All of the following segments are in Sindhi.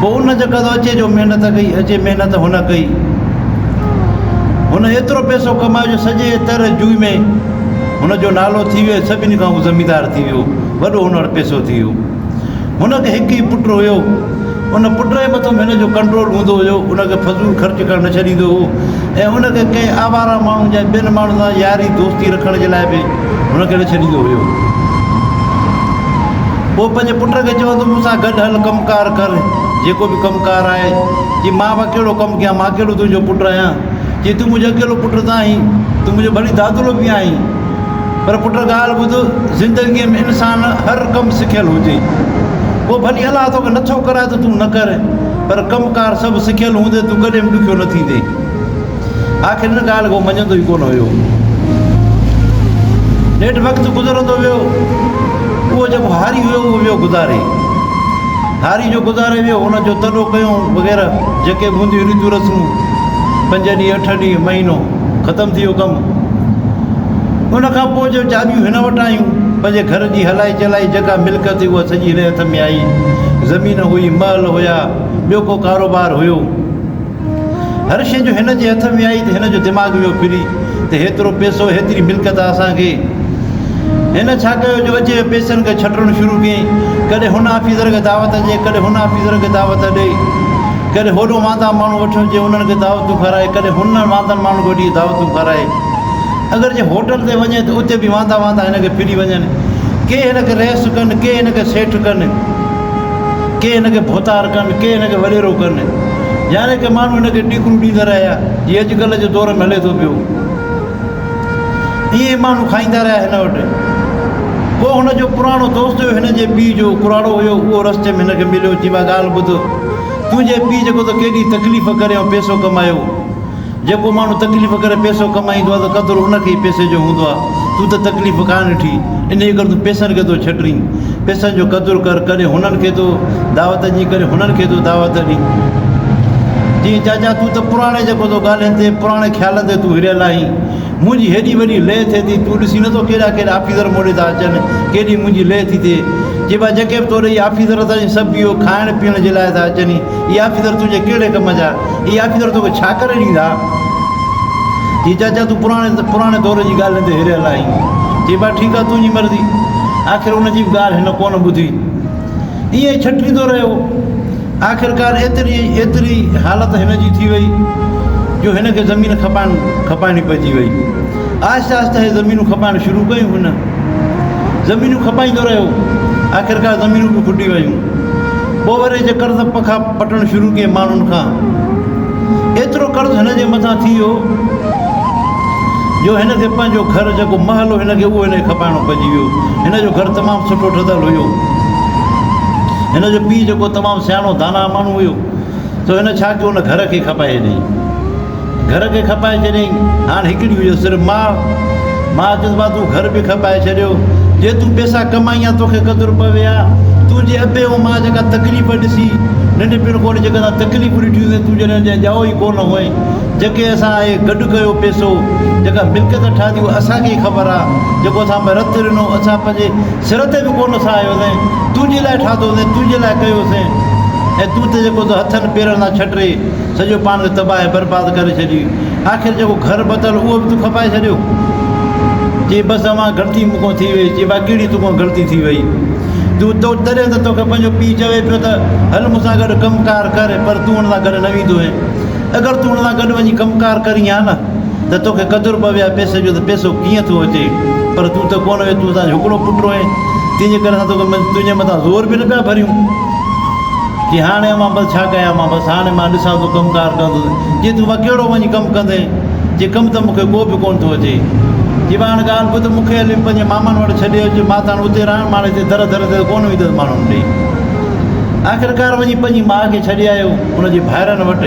پوء ان جي قدر اچي جو محنت ڪئي اچي محنت هن ڪئي هن ايترو پئسو ڪمايو جو سڄي تر جوئي ۾ هن جو نالو ٿي ويو سڀني کان هو زميندار ٿي ويو وڏو هن وٽ پئسو ٿي ويو هن کي هڪ ئي پٽ هيو ان پٽ جي مٿو هن جو ڪنٽرول هوندو هيو ان کي فضول خرچ ڪرڻ نه ڇڏيندو هو ۽ ان کي ڪنهن آوارا ماڻهو جا ٻين ماڻهن سان ياري دوستي رکڻ جي لاء به هن ڪهڙو ڇڏيندو هيو. پوء پنهنجي پٽ کي چيو ته مون سان گڏ هل ڪم ڪار ڪر، جيڪو به ڪم ڪار آهي. چي مان به اڪيلو ڪم ڪيان، مان ڪهڙو تنهنجو پٽ آهيان. چي تون منهنجو اڪيلو پٽ نه آهين، تون منهنجو ڀلي دادلو به آهين. پر پٽ ڳالهه ٻڌ، زندگيء ۾ انسان هر ڪم سکيل هجي. پوء ڀلي الله توکي نٿو ڪرائي ته تون نه ڪر، پر ڪم ڪار سڀ سکيل هوندي تون ڪڏهن به ڏکيو نه ٿيندين. آخر ان ڳالهه کي هو مڃيندو ئي ڪونه هيو. نيٺ وقت گذرندو ويو. اهو جيڪو هاري هيو اهو ويو گذاري. هاري جو گذاري ويو ان جو تڏو ڪيون وغيره جيڪي به هونديون ريتون رسمون پنج ڏينهن اٺ ڏينهن مهينو ختم ٿي ويو ڪم. ان کان پوء جو چاٻيون هن وٽ آيون پنهنجي گهر جي هلائي چلائي جيڪا ملڪيت هئي اها سڄي هن هٿ ۾ آئي. زمين هئي، محل هيا، ٻيو ڪو ڪاروبار هيو. هر شيء جو هن جي هٿ ۾ آئي ته هن جو دماغ ويو ڦري ته هيترو پئسو، هيتري ملڪيت اسان کي. هن ڇا ڪيو جو اجهي پئسن کي ڇٽڻ شروع ڪيائين. ڪڏهن هن آفيسر کي دعوت ڏي، ڪڏهن هن آفيسر کي دعوت ڏي. ڪڏهن هوڏو واندا ماڻهو وٺ جي انهن کي دعوتون کارائي، ڪڏهن هن واندن ماڻهن کي وٺي دعوتون کارائي. اگر جي هوٽل تي وڃي ته اتي به واندا واندا هن کي ڦري وڃن. ڪي هن کي رئيس ڪن، ڪي هن کي سيٺ ڪن. ڪي هن کي ڀوتار ڪن، ڪي هن کي وڏيرو ڪن. يعنيٰ ڪي ماڻهو هن کي ڏيڪرون ڏيندا رهيا، جيئن اڄڪلهه جي دور ۾ هلي ٿو پيو. ائين ئي ماڻهو کائيندا رهيا هن وٽ. ڪو هن جو پراڻو دوست هيو، هن جي پيء جو ڪراڙو هيو، اهو رستي ۾ هن کي مليو، چيو، ڀاء ڳالهه ٻڌ، تنهنجي پيء جيڪو ته ڪيڏي تڪليف ڪري ۽ پيسو ڪمايو، جيڪو ماڻهو تڪليف ڪري پيسو ڪمائيندو آهي ته قدر ان کي ئي پيسي جو هوندو آهي. تون ته تڪليف ڪانه ڏٺي، انهيء ڪري تون پيسن کي ٿو ڇٽرين. پيسن جو قدر ڪر، ڪڏهن هنن کي ٿو دعوت ڏين، ڪڏهن هنن کي ٿو دعوت ڏين. چيائين، چاچا، تون ته پراڻي جيڪو ٿو ڳالهين تي، پراڻي خيالن تي تون هريل آهين. منهنجي هيڏي وڏي لئه ٿئي ٿي، تون ڏسين نٿو ڪيڏا ڪيڏا آفيسر مون ڏي ٿا اچن، ڪيڏي منهنجي لئه ٿي ٿئي. چئبو آهي، جيڪي به تو ڏي آفيسر ٿا اچن، سڀ اهو کائڻ پيئڻ جي لاء ٿا اچن. اهي آفيسر تنهنجي ڪهڙي ڪم جا؟ اي آفيسر توکي ڇا ڪري ڏيندا؟ جي چاچا تون پراڻي پراڻي دور جي ڳالهين تي هريل آهين. چئي با ٺيڪ آ تنهنجي مرضي. آخر ان جي به ڳالهه هن ڪونه ٻڌي. ائين ئي ڇٽريندو رهيو. آخرڪار ايتري ايتري حالت هن جي ٿي وئي جو هن کي زمين کپائڻ کپائڻي پئجي وئي. آهستي آهستي هي زمينون کپائڻ شروع ڪيون هن زمينون کپائيندو رهيو آخرڪار زمينون به کٽي ويون ٻه ورهين جي قرض پکا پٽڻ شروع ڪئي ماڻهن کان ايترو قرض هن جي مٿان ٿي ويو جو هن کي پنهنجو گهر جيڪو محل هو هن کي اهو هن کي کپائڻو پئجي ويو هن جو گهر تمام سٺو ٺهيل هيو هن جو پيء جيڪو تمام سياڻو داناء ماڻهو هيو سو هن ڇا ڪيو هن گهر کي کپائي ڏني گهر کي کپائي ڇڏيائين. هاڻ هڪڙي هئي صرف ماء. ماء چيس مان تون گهر به کپائي ڇڏيو. جي تون پيسا ڪمائين ها توکي قدر پوي ها. تنهنجي ابي ۽ ماء جيڪا تڪليف ڏسي ننڍپڻ کان وٺي جيڪا اسان تڪليفون ڏٺيون سين تون جڏهن انجا ڄائو ئي ڪونه هئين. جيڪي اسان اهي گڏ ڪيو پيسو جيڪا ملڪيت ٺاهي اها اسان کي ئي خبر ها. جيڪو اسان ۾ رت رنو اسان پنهنجي سر تي به ڪونه سهايو سين. تنهنجي لاء ٺاهتو سين تنهنجي لاء ڪيو سين ۽ تون ته جيڪو هٿن پيرن سان ڇٽري. سڄو پاڻ کي تباهه ۽ برباد ڪري ڇڏي. آخر جيڪو گهر بتل اهو به تون کپائي ڇڏيو. چي بس اوهان غلطي مون کان ٿي وئي. چي با ڪهڙي تون کان غلطي ٿي وئي. تون تو تڏهن ته توکي پنهنجو پيء چوي پيو ته هل مون سان گڏ ڪم ڪار ڪر پر تون هن سان گڏ نه ويندو هين. اگر تون هن سان گڏ وڃي ڪم ڪار ڪرين ها نه ته توکي قدر پوي ها پئسي جو ته پئسو ڪيئن ٿو اچي پر تون ته ڪونه وئي تون اسان جو هڪڙو پٽ هئين تنهنجي ڪري اسان توکي تنهنجي مٿان زور به نه پيا ڀريون. جي هاڻي مان بس ڇا ڪيان مان بس هاڻي مان ڏسان ٿو ڪم ڪار ڪندس جي تون وڪيڙو وڃي ڪم ڪندين جي ڪم ته مونکي ڪو به ڪونه ٿو اچي جي مان هاڻي ڳالهه ٻڌ مونکي هلي پنهنجي مامن وٽ ڇڏي اچ مان ته هاڻي اتي رهڻ مان هاڻي در در تي ڪونه ويندس ماڻهن ڏي آخرڪار وڃي پنهنجي ماء کي ڇڏي آيو ان جي ڀائرن وٽ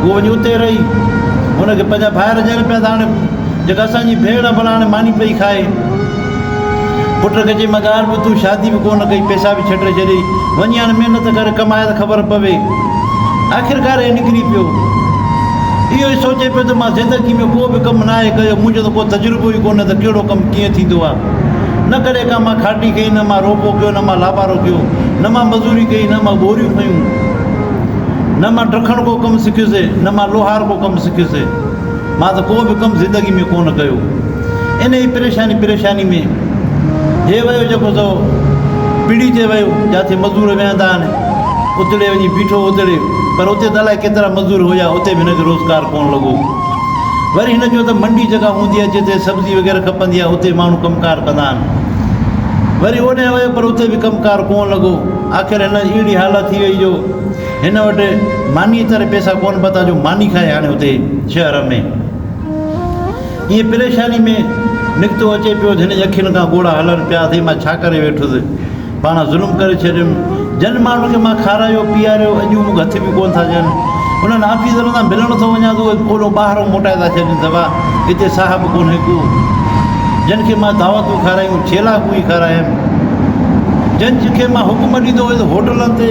هو وڃي اتي رهي هن کي پنهنجا ڀائر چئن پيا ته هاڻي جيڪا اسانجي ڀيڻ ڀلا هاڻي ماني پئي کائي پٽ ڪجي مگار به تون شادي به ڪونه ڪئي پئسا به ڇٽي ڇڏي وڃي هاڻي محنت ڪر ڪماء ته خبر پوي آخرڪار هي نڪري پيو اهو ئي سوچي پيو ته مان زندگي ۾ ڪو به ڪم ناهي ڪيو منهنجو ته ڪو تجربو ئي ڪونه ته ڪهڙو ڪم ڪيئن ٿيندو آهي نه ڪڏهن ڪا مان کاٽي ڪئي نه مان روپو ڪيو نه مان لابارو ڪيو نه مان مزوري ڪئي نه مان ٻوريون کنيون نه مان ڊکڻ ڪو ڪم سکيوسي نه مان لوهار ڪو ڪم سکيوسي مان ته ڪو به ڪم زندگي ۾ ڪونه ڪيو. انهيء پريشاني پريشاني ۾ هي ويو جيڪو سو پڙي تي ويو، جاٿي مزور ويهندا آهن، اتڙي وڃي بيٺو اتڙي، پر اتي ته الائي ڪيترا مزور هيا، اتي به هن کي روزگار ڪونه لڳو. وري هن چيو ته منڊي جيڪا هوندي آهي جتي سبزي وغيره کپندي آهي، اتي ماڻهو ڪم ڪار ڪندا آهن. وري اوڏانهن ويو پر اتي به ڪم ڪار ڪونه لڳو. آخر هن اهڙي حالت ٿي وئي جو. هن وٽ مانيء ڪري پئسا ڪونه پتا جو ماني کائي هاڻي هتي شهر ۾ ائين پريشاني ۾ نڪتو اچي پيو هن جي اکين کان ڳوڙها هلن پيا اٿي مان ڇا ڪري ويٺس پاڻ ظلم ڪري ڇڏيم جن ماڻهن کي مان کارايو پياريو اڄ هو مون کي هٿ به ڪونه ٿا ڏين انهن آفيسرن سان ملڻ ٿو وڃان ته اهي ٻولو ٻاهرو موٽائي ٿا ڇڏين دبا هتي صاحب ڪونهي ڪو جن کي مان دعوتون کارايون ڇيلا ڪوئي کارايم جن کي مان حڪم ڏيندو هوس هوٽلن تي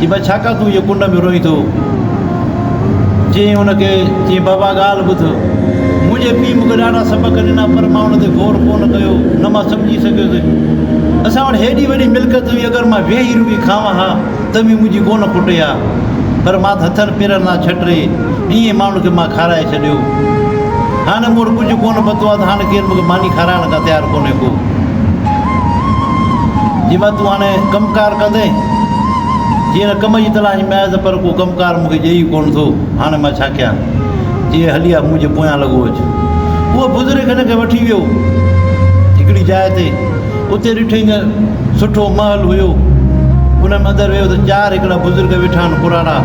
چي بابا ڇا ڪا تون ايئن ڪنڊ ۾ روئين ٿو؟ چيائين ان کي، چيائين بابا ڳالهه ٻڌ، منهنجي پيء مون کي ڏاڍا سبق ڏنا پر مان ان تي غور ڪونه ڪيو، نه مان سمجهي سگهيس. اسان وٽ هيڏي وڏي ملڪيت هئي، اگر مان ويهي روئي کائون ها ته به منهنجي ڪونه کٽي ها، پر مان ته هٿن پيرن سان ڇٽري ڏينهن ماڻهن کي مان کارائي ڇڏيو. هاڻي مون وٽ ڪجهه ڪونه پتو آهي ته هاڻي ڪير مون کي ماني کارائڻ ڪا تيار ڪونهي ڪو. جي مان تون هاڻي ڪم ڪار ڪندين؟ جي هن ڪم جي تلاش ۾ آهيان ته پر ڪو ڪم ڪار مون کي ڏئي ئي ڪونه ٿو. هاڻي مان ڇا ڪيان؟ جي هلي آ، منهنجي پويان لڳو اچ. اهو بزرگ هن کي وٺي ويو هڪڙي جاء تي. اتي ڏٺئي ته سٺو محل هيو. ان ۾ اندر ويو ته چار هڪڙا بزرگ ويٺا آهن پراڻا.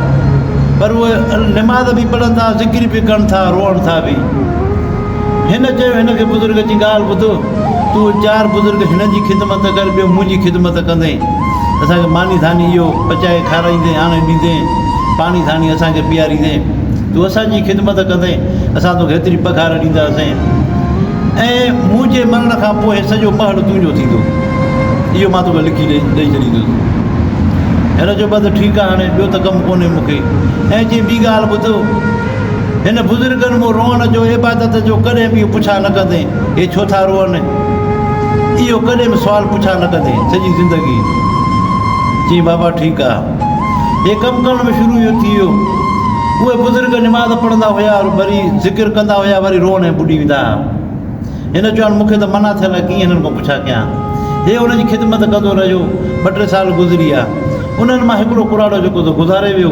پر اهي نماز به پڙهن ٿا، ذڪر به ڪن ٿا، روئن ٿا به. هن چيو هن کي بزرگ جي ڳالهه ٻڌ. تون چار بزرگ هن جي خدمت ڪر، ٻيو منهنجي خدمت ڪندين. اسان کي ماني ڌاني اهو پچائي کارائيندين، آڻي ڏيندين، پاڻي ڌاني اسان کي پياريندين. تون اسان جي خدمت ڪندين، اسان توکي ايتري پگهار ڏينداسين ۽ مون جي مرڻ کان پوء هي سڄو مهل تنهنجو ٿيندو. اهو مان توکي لکي ڏئي ڇڏيندس. هن چيو، بس ٺيڪ آهي، هاڻي ٻيو ته ڪم ڪونهي مون کي. ائين چئي ٻي ڳالهه ٻڌ، هن بزرگن مون روئڻ جو، عبادت جو ڪڏهن به اهو پڇا نه ڪندين. هي ڇو ٿا روئن؟ اهو ڪڏهن به سوال پڇا نه ڪندي سڄي زندگي چيائين بابا ٺيڪ آ. هي ڪم ڪرڻ ۾ شروع اهو ٿي ويو. اهي بزرگ نماز پڙهندا هيا وري ذڪر ڪندا هيا وري روئڻ ۾ ٻڏي ويندا ها. هن چيو هاڻ مون کي ته منع ٿيل آ ڪيئن هنن کان پڇا ڪيان. هي هن جي خدمت ڪندو رهيو. ٻه ٽي سال گذري ويا. انهن مان هڪڙو ڪراڙو جيڪو سو گذاري ويو.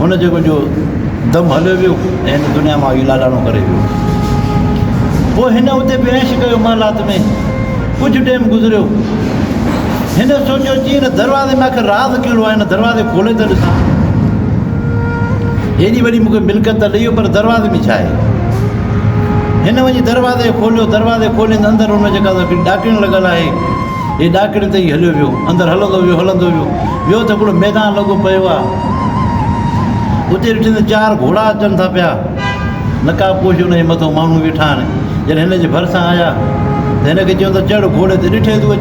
هن جيڪو جو دم هليو ويو ۽ هن دنيا مان هي لاڏاڻو ڪري ويو. پوء هن اتي به عيش ڪيو محلات ۾. ڪجهه ٽيم گذريو. هن سوچيو چي هن دروازي ۾ آخر راز ڪهڙو آهي، هن دروازي کولي ته ڏسان. هيڏي وڏي مون کي ملڪيت ته ڏئي ويو پر دروازي ۾ ڇا آهي. هن وڃي دروازي کوليو، دروازي کولين ته اندر هن جيڪا ڏاڪڻ لڳل آهي. هي ڏاڪڻي تي ئي هليو ويو. اندر هلندو ويو، هلندو ويو. ويو ته هڪڙو ميدان لڳو پيو آ. اتي ڏٺئي ته چار گهوڙا اچن ٿا پيا. نقاب پوش ان جي مٿو ماڻهو ويٺا آهن. جڏهن هن جي ڀرسان آيا ته هن کي چيو ته چڙهه گهوڙي تي. ڏٺئي ته اهي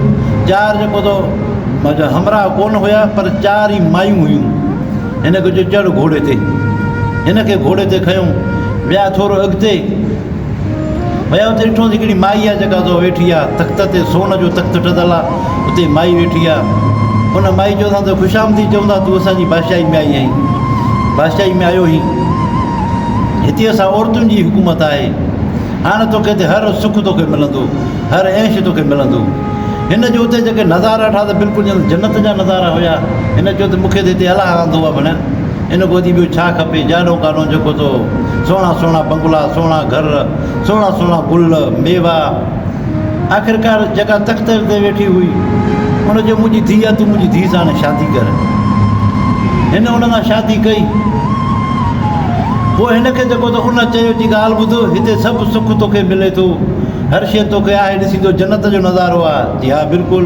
چار جيڪو تو وٽ همراهه ڪونه هيا پر چار ئي مايون هيون. هن کي چيو چڙهه گهوڙي تي. هن کي گهوڙي تي کنيو. ويا ٿورو اڳتي. ويا اتي ڏٺوس هڪڙي مائي آ جيڪا سو ويٺي آ تخت تي سون جو تخت ٺھيل آ اتي مائي ويٺي آ ان مائي چيوسان ته خوش آمديد چئون ٿا تون اسان جي بادشاھي ۾ آئي آھين بادشاھي ۾ آيو ھين ھتي اسان عورتن جي حڪومت آھي ھاڻ توکي ته ھر سک توکي ملندو ھر عيش توکي ملندو ھن جو اتي جيڪي نظارا ڏٺا ته بلڪل ڄڻ جنت جا نظارا ھيا ھن چيو ته مونکي ته ھتي الله آندو آ ڀڻيا ان کان وڌيڪ ٻيو ڇا کپي؟ جانو ڪانو جيڪو ٿو، سهڻا سهڻا بنگلا، سهڻا گهر، سهڻا سهڻا گل، ميوا. آخرڪار جيڪا تخت تي ويٺي هئي، ان چيو، منهنجي ڌيء، تون منهنجي ڌيء سان هاڻي شادي ڪر. هن ان سان شادي ڪئي. پوء هن کي جيڪو ٿو، ان چيو، جي ڳالهه ٻڌ، هتي سڀ سک توکي ملي ٿو، هر شيء توکي آهي، ڏسين ٿو جنت جو نظارو آهي؟ چي، ها بلڪل.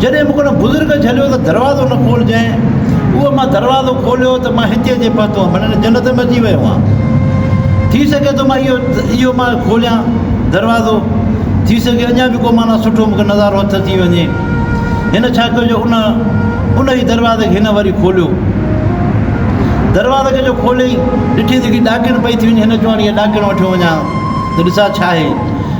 جڏهن مون کي ان بزرگ جهليو ته دروازو نه کولجانء. اهو مان دروازو کوليو ته مان هتي اچي پهتو هئم، معنيٰ هن جنت ۾ اچي ويو هئان. ٿي سگهي ٿو مان اهو مان کوليان دروازو، ٿي سگهي اڃا به ڪو معنيٰ سٺو مون کي نظارو هٿ اچي وڃي. هن ڇا ڪيو جو ان ان ئي دروازي کي هن وري کوليو. دروازي کي جو کوليائين، ڏٺي ته هڪڙي ڏاڪڻ پئي ٿي وڃي، هن چيو هاڻي اها ڏاڪڻ وٺيو وڃان ته ڏسان ڇا آهي.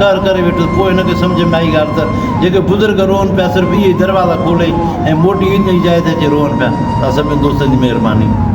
قهر ڪري ويٺس. پوء هن کي سمجهه ۾ آئي ڳالهه ته جيڪي بزرگ روئن پيا صرف اهي ئي دروازا کولي ۽ موٽي ان ئي جاء تي اچي روئن پيا. سا سڀني دوستن جي مهرباني.